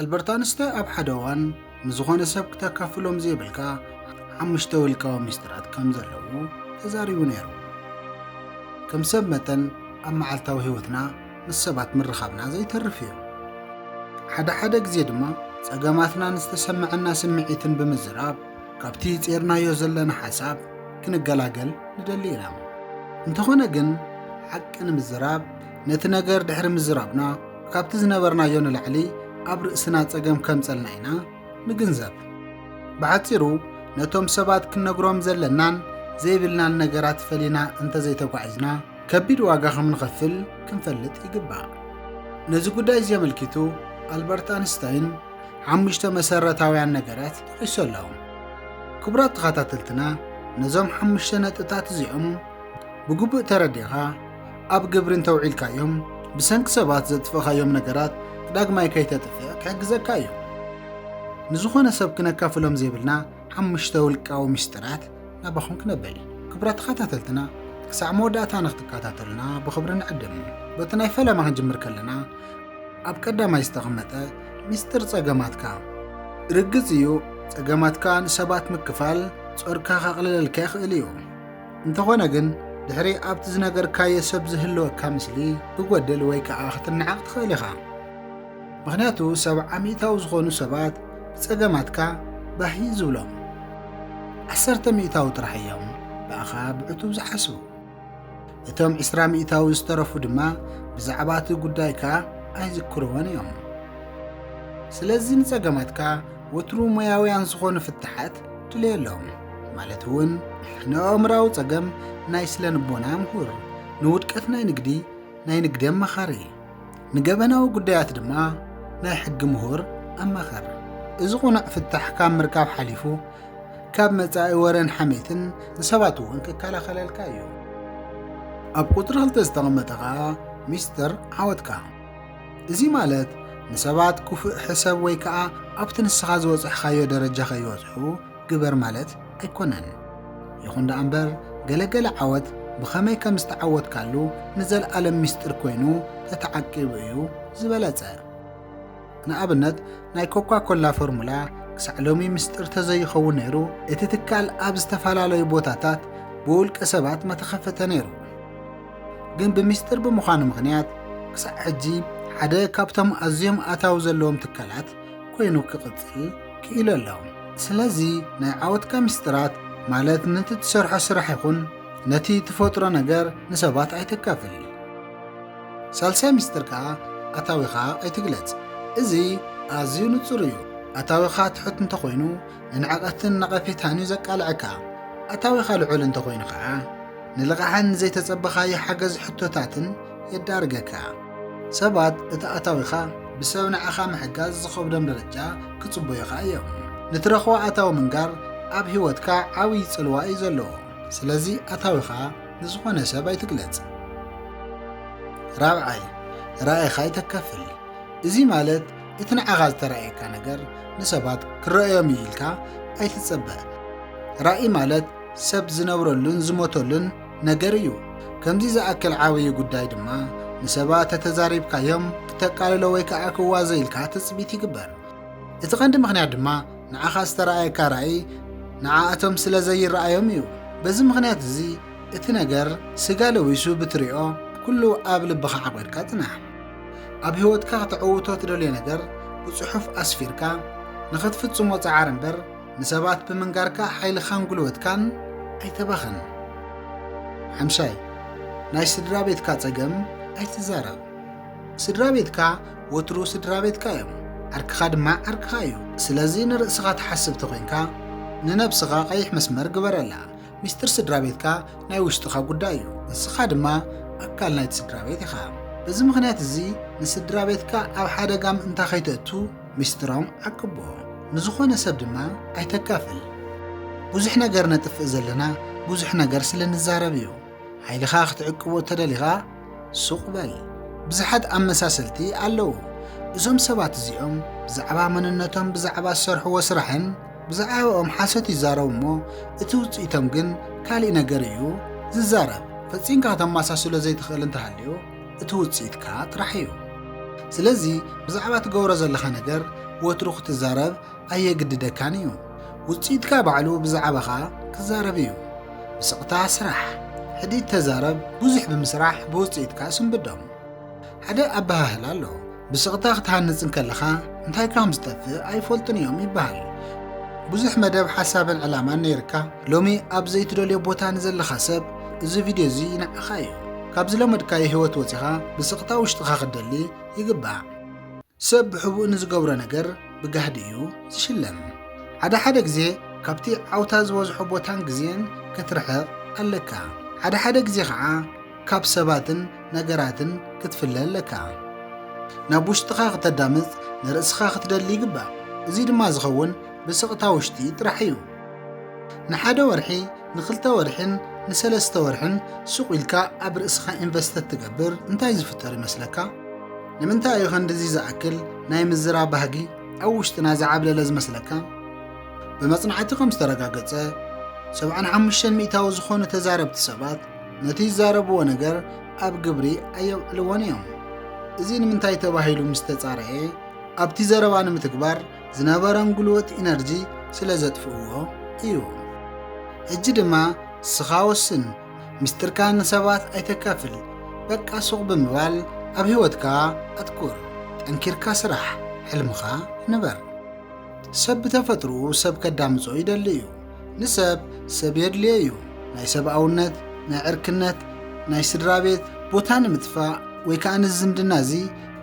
ኣልበርት ኣንስታይ ኣብ ሓደ እዋን ንዝኾነ ሰብ ክተካፍሎም ዘይብልካ ሓሙሽተ ውልቃዊ ሚስጥራት ከም ዘለዉ ተዛሪቡ ነይሩ። ከም ሰብ መጠን ኣብ መዓልታዊ ህይወትና ምስ ሰባት ምርኻብና ዘይተርፍ እዩ። ሓደ ሓደ ግዜ ድማ ጸገማትናን ዝተሰምዐና ስምዒትን ብምዝራብ ካብቲ ጼርናዮ ዘለና ሓሳብ ክንገላገል ንደሊ ኢና። እንተኾነ ግን ሓቂ ንምዝራብ ነቲ ነገር ድሕሪ ምዝራብና ካብቲ ዝነበርናዮ ንላዕሊ ኣብ ርእስና ጸገም ከምጸልና ኢና ንግንዘብ። ብሓጺሩ ነቶም ሰባት ክንነግሮም ዘለናን ዘይብልናን ነገራት ፈሊና እንተዘይተጓዒዝና ከቢድ ዋጋ ከም ንኸፍል ክንፈልጥ ይግባእ። ነዚ ጉዳይ እዚ ኣመልኪቱ ኣልበርት ኣንስታይን ሓሙሽተ መሰረታውያን ነገራት ጠቒሱ ኣሎ። ክቡራት ተኸታተልትና ነዞም ሓሙሽተ ነጥብታት እዚኦም ብግቡእ ተረዲኻ ኣብ ግብሪ እንተውዒልካዮም ብሰንኪ ሰባት ዘጥፍእኻዮም ነገራት ዳግማይ ከይተጥፍእ ክሕግዘካ እዩ። ንዝኾነ ሰብ ክነካፍሎም ዘይብልና ሓሙሽተ ውልቃዊ ምስጢራት ናባኹም ክነብል ክብራ ተኸታተልትና ክሳዕ መወዳእታ ንክትከታተሉና ብኽብሪ ንዕድም በቲ ናይ ፈለማ ክንጅምር ከለና ኣብ ቀዳማይ ዝተቐመጠ ምስጢር ጸገማትካ ርግጽ እዩ ጸገማትካ ንሰባት ምክፋል ጾርካ ከቕልለልካ ይኽእል እዩ እንተኾነ ግን ድሕሪ ኣብቲ ዝነገርካዮ ሰብ ዝህልወካ ምስሊ ክጎድል ወይ ከዓ ክትነዓቕ ትኽእል ኢኻ። ምኽንያቱ ሰብዓ ሚእታዊ ዝኾኑ ሰባት ብጸገማትካ ባህ እዩ ዝብሎም። ዓሰርተ ሚእታዊ ጥራሕ እዮም ብኣኻ ብዕቱብ ዝሓስቡ። እቶም ዕስራ ሚእታዊ ዝተረፉ ድማ ብዛዕባ እቲ ጉዳይካ ኣይዝክርዎን እዮም። ስለዚ ንጸገማትካ ወትሩ ሞያውያን ዝኾኑ ፍታሓት ድልየሎም ማለት እውን ንኣእምራዊ ጸገም ናይ ስለ ንቦና ምሁር ንውድቀት ናይ ንግዲ ናይ ንግዲ ኣማኻሪ ንገበናዊ ጉዳያት ድማ ናይ ሕጊ ምሁር ኣማኸር እዚ ቁኑዕ ፍታሕ ካብ ምርካብ ሓሊፉ ካብ መጻኢ ወረን ሓሜትን ንሰባት እውን ክከላኸለልካ እዩ ኣብ ቁፅሪ ክልተ ዝተቐመጠ ከዓ ሚስጥር ዓወትካ እዚ ማለት ንሰባት ኩፍእ ሕሰብ ወይ ከኣ ኣብቲ ንስኻ ዝበጸሕካዮ ደረጃ ከይበጽሑ ግበር ማለት ኣይኮነን። ይኹን ደኣ እምበር ገለ ገለ ዓወት ብኸመይ ከም ዝተዓወትካሉ ንዘልኣለም ሚስጢር ኮይኑ ተተዓቂቡ እዩ ዝበለጸ። ንኣብነት ናይ ኮካ ኮላ ፎርሙላ ክሳዕ ሎሚ ምስጢር ተዘይኸውን ነይሩ እቲ ትካል ኣብ ዝተፈላለዩ ቦታታት ብውልቀ ሰባት መተኸፈተ ነይሩ። ግን ብምስጢር ብምዃኑ ምኽንያት ክሳዕ ሕጂ ሓደ ካብቶም ኣዝዮም ኣታዊ ዘለዎም ትካላት ኮይኑ ክቕጽል ክኢሉ ኣሎ ስለዚ ናይ ዓወትካ ምስጢራት ማለት ነቲ ትሰርሖ ስራሕ ይኹን ነቲ ትፈጥሮ ነገር ንሰባት ኣይተካፍል ሳልሳይ ምስጢር ከዓ ኣታዊኻ ኣይትግለጽ እዚ ኣዝዩ ንጹር እዩ ኣታዊኻ ትሑት እንተኾይኑ ንንዕቐትን ነቐፌታን እዩ ዘቃልዐካ ኣታዊኻ ልዑል እንተኾይኑ ከዓ ንልቓሕን ንዘይተጸበኻዮ ሓገዝ ሕቶታትን የዳርገካ። ሰባት እቲ ኣታዊኻ ብሰብ ንዓኻ ምሕጋዝ ዝኸብዶም ደረጃ ክጽበዩኻ እዮም። ንትረኽቦ ኣታዊ ምንጋር ኣብ ህይወትካ ዓብዪ ጽልዋ እዩ ዘለዎ። ስለዚ ኣታዊኻ ንዝኾነ ሰብ ኣይትግለጽ። ራብዓይ፣ ራእይኻ ኣይተካፍል። እዚ ማለት እቲ ንዓኻ ዝተራእየካ ነገር ንሰባት ክረኣዮም እዩ ኢልካ ኣይትጸበ። ራእይ ማለት ሰብ ዝነብረሉን ዝሞተሉን ነገር እዩ። ከምዚ ዝኣክል ዓብዪ ጉዳይ ድማ ንሰባት ተተዛሪብካዮም ክተቃልሎ ወይ ከዓ ክዋዞ ኢልካ ትፅቢት ይግበር። እቲ ቀንዲ ምኽንያት ድማ ንዓኻ ዝተረኣየካ ራእይ ንዓኣቶም ስለ ዘይረኣዮም እዩ። በዚ ምኽንያት እዚ እቲ ነገር ስጋ ለዊሱ ብትሪኦ ኩሉ ኣብ ልብኻ ዓቂርካ ፅናሕ። ኣብ ህይወትካ ክተዕውቶ ትደልዮ ነገር ብፅሑፍ ኣስፊርካ ንኽትፍፅሞ ፀዓር እምበር ንሰባት ብምንጋርካ ሓይልኻን ጉልበትካን ኣይተባኽን። ሓምሻይ፣ ናይ ስድራ ቤትካ ጸገም ኣይትዛረብ። ስድራ ቤትካ ወትሩ ስድራ ቤትካ እዮም፣ ዓርክኻ ድማ ዓርክኻ እዩ። ስለዚ ንርእስኻ ትሓስብ ተኾይንካ ንነብስኻ ቀይሕ መስመር ግበረላ። ሚስጥር ስድራ ቤትካ ናይ ውሽጥኻ ጉዳይ እዩ፣ ንስኻ ድማ ኣካል ናይቲ ስድራ ቤት ኢኻ። በዚ ምኽንያት እዚ ንስድራ ቤትካ ኣብ ሓደጋ ምእንታ ከይተእቱ ሚስጥሮም ዓቅቦ ንዝኾነ ሰብ ድማ ኣይተካፍል ብዙሕ ነገር ነጥፍእ ዘለና ብዙሕ ነገር ስለ ንዛረብ እዩ ሓይልኻ ክትዕቅቦ ተደሊኻ ሱቕ በል ብዙሓት ኣመሳሰልቲ ኣለዉ እዞም ሰባት እዚኦም ብዛዕባ መንነቶም ብዛዕባ ዝሰርሕዎ ስራሕን ብዛዕባኦም ሓሶት ይዛረቡ እሞ እቲ ውፅኢቶም ግን ካልእ ነገር እዩ ዝዛረብ ፈፂምካ ከተመሳስሎ ዘይትኽእል እንተሃልዩ እቲ ውጽኢትካ ጥራሕ እዩ። ስለዚ ብዛዕባ ትገብሮ ዘለኻ ነገር ወትሩ ክትዛረብ ኣየግድደካን እዩ። ውጽኢትካ ባዕሉ ብዛዕባኻ ክዛረብ እዩ። ብስቕታ ስራሕ፣ ሕዲት ተዛረብ፣ ብዙሕ ብምስራሕ ብውጽኢትካ ስንብዶም። ሓደ ኣበሃህላ ኣሎ፣ ብስቕታ ክትሃንጽ እንከለኻ እንታይ ካም ዝጠፍእ ኣይፈልጡን እዮም ይበሃል። ብዙሕ መደብ ሓሳብን ዕላማን ነይርካ ሎሚ ኣብ ዘይትደልዮ ቦታ ንዘለኻ ሰብ እዚ ቪድዮ እዚ ንዓኻ እዩ። ካብ ዝለመድካዮ ህይወት ወጺኻ ብስቕታ ውሽጥኻ ክትደሊ ይግባእ። ሰብ ብሕቡእ ንዝገብሮ ነገር ብጋህዲ እዩ ዝሽለም። ሓደ ሓደ ግዜ ካብቲ ዓውታ ዝበዝሖ ቦታን ግዜን ክትርሕቕ ኣለካ። ሓደ ሓደ ግዜ ከዓ ካብ ሰባትን ነገራትን ክትፍለ ኣለካ። ናብ ውሽጥኻ ክተዳምጽ ንርእስኻ ክትደሊ ይግባእ። እዚ ድማ ዝኸውን ብስቕታ ውሽጢ ጥራሕ እዩ። ንሓደ ወርሒ፣ ንክልተ ወርሒን ንሰለስተ ወርሕን ሱቕ ኢልካ ኣብ ርእስኻ ኢንቨስት ተትገብር እንታይ ዝፍጠር ይመስለካ? ንምንታይ እዩ ከንድዚ ዝኣክል ናይ ምዝራብ ባህጊ ኣብ ውሽጥና ዝዓብለለ ዝመስለካ? ብመጽናዕቲ ከም ዝተረጋገጸ፣ ሰብዓን ሓሙሽተን ሚእታዊ ዝኾኑ ተዛረብቲ ሰባት፣ ነቲ ዝዛረብዎ ነገር ኣብ ግብሪ ኣየውዕልዎን እዮም። እዚ ንምንታይ ተባሂሉ ምስ ተጻረየ ኣብቲ ዘረባ ንምትግባር ዝነበረን ጉልበት ኢነርጂ ስለ ዘጥፍእዎ እዩ። ሕጂ ድማ ንስኻ ወስን፣ ምስጢርካ ንሰባት ኣይተካፍል፣ በቃ ሱቕ ብምባል ኣብ ህይወትካ ኣትኩር፣ ጠንኪርካ ስራሕ፣ ሕልምኻ ንበር። ሰብ ብተፈጥርኡ ሰብ ከዳምጾ ይደሊ እዩ። ንሰብ ሰብ የድልዮ እዩ። ናይ ሰብኣውነት፣ ናይ ዕርክነት፣ ናይ ስድራ ቤት ቦታ ንምጥፋእ ወይ ከኣ ነዚ ዝምድና እዚ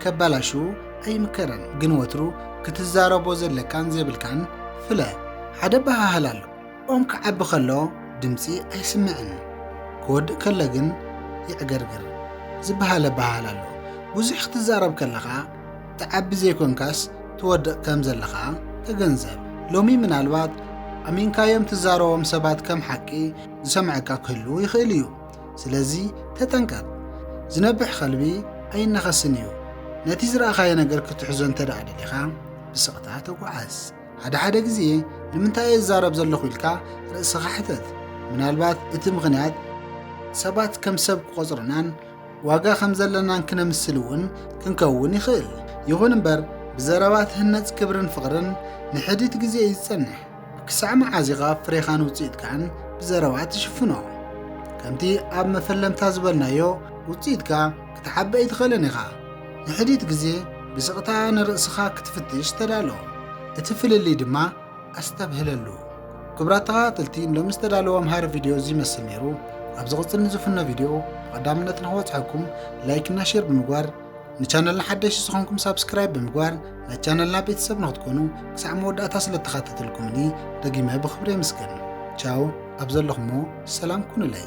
ከበላሽዉ ኣይምከርን። ግን ወትሩ ክትዛረቦ ዘለካን ዘይብልካን ፍለ። ሓደ ኣበሃህላ ኣሎ፣ ኦም ክዓቢ ከሎ ድምጺ ኣይስምዕን፣ ክወድእ ከሎ ግን የዕገርግር ዝበሃል ኣበሃህላ ኣሎ። ብዙሕ ክትዛረብ ከለኻ፣ ትዓቢ ዘይኮንካስ ትወድቕ ከም ዘለኻ ተገንዘብ። ሎሚ ምናልባት ኣሚንካዮም ትዛረቦም ሰባት ከም ሓቂ ዝሰምዐካ ክህልው ይኽእል እዩ። ስለዚ ተጠንቀቕ። ዝነብሕ ከልቢ ኣይነኸስን እዩ። ነቲ ዝረኣኻዮ ነገር ክትሕዞ እንተ ደኣ ደሊኻ ብስቕታ ተጓዓዝ። ሓደ ሓደ ግዜ ንምንታይ እየ ዝዛረብ ዘለኹ ኢልካ ርእስኻ ሕተት። ምናልባት እቲ ምኽንያት ሰባት ከም ሰብ ክቖጽሩናን ዋጋ ከም ዘለናን ክነምስል እውን ክንከውን ይኽእል። ይኹን እምበር ብዘረባ ትህነጽ ክብርን ፍቕርን ንሕዲት ግዜ እዩ ዝጸንሕ። ክሳዕ መዓዝ ኢኻ ፍሬኻን ውጽኢትካን ብዘረባ ትሽፍኖ? ከምቲ ኣብ መፈለምታ ዝበልናዮ ውጽኢትካ ክትዓቢ ኣይትኽእልን ኢኻ። ንሕዲት ግዜ ብስቕታ ንርእስኻ ክትፍትሽ ተዳሎ። እቲ ፍልልይ ድማ ኣስተብህለሉ። ክቡራት ተኸታተልቲ ሎሚ ዝተዳለወ ኣምሃሪ ቪድዮ እዚ ይመስል ነይሩ። ኣብ ዝቕፅል ንዝፍኖ ቪድዮ ብቐዳምነት ንክበፅሐኩም ላይክ እና ሼር ብምግባር ንቻነልና ሓደሽቲ ዝኾንኩም ሳብስክራይብ ብምግባር ናይ ቻነልና ቤተሰብ ንክትኮኑ ክሳዕ መወዳእታ ስለተኸታተልኩምኒ ደጊመ ብክብሪ የመስገን። ቻው ኣብ ዘለኹሞ ሰላም ኩኑለይ።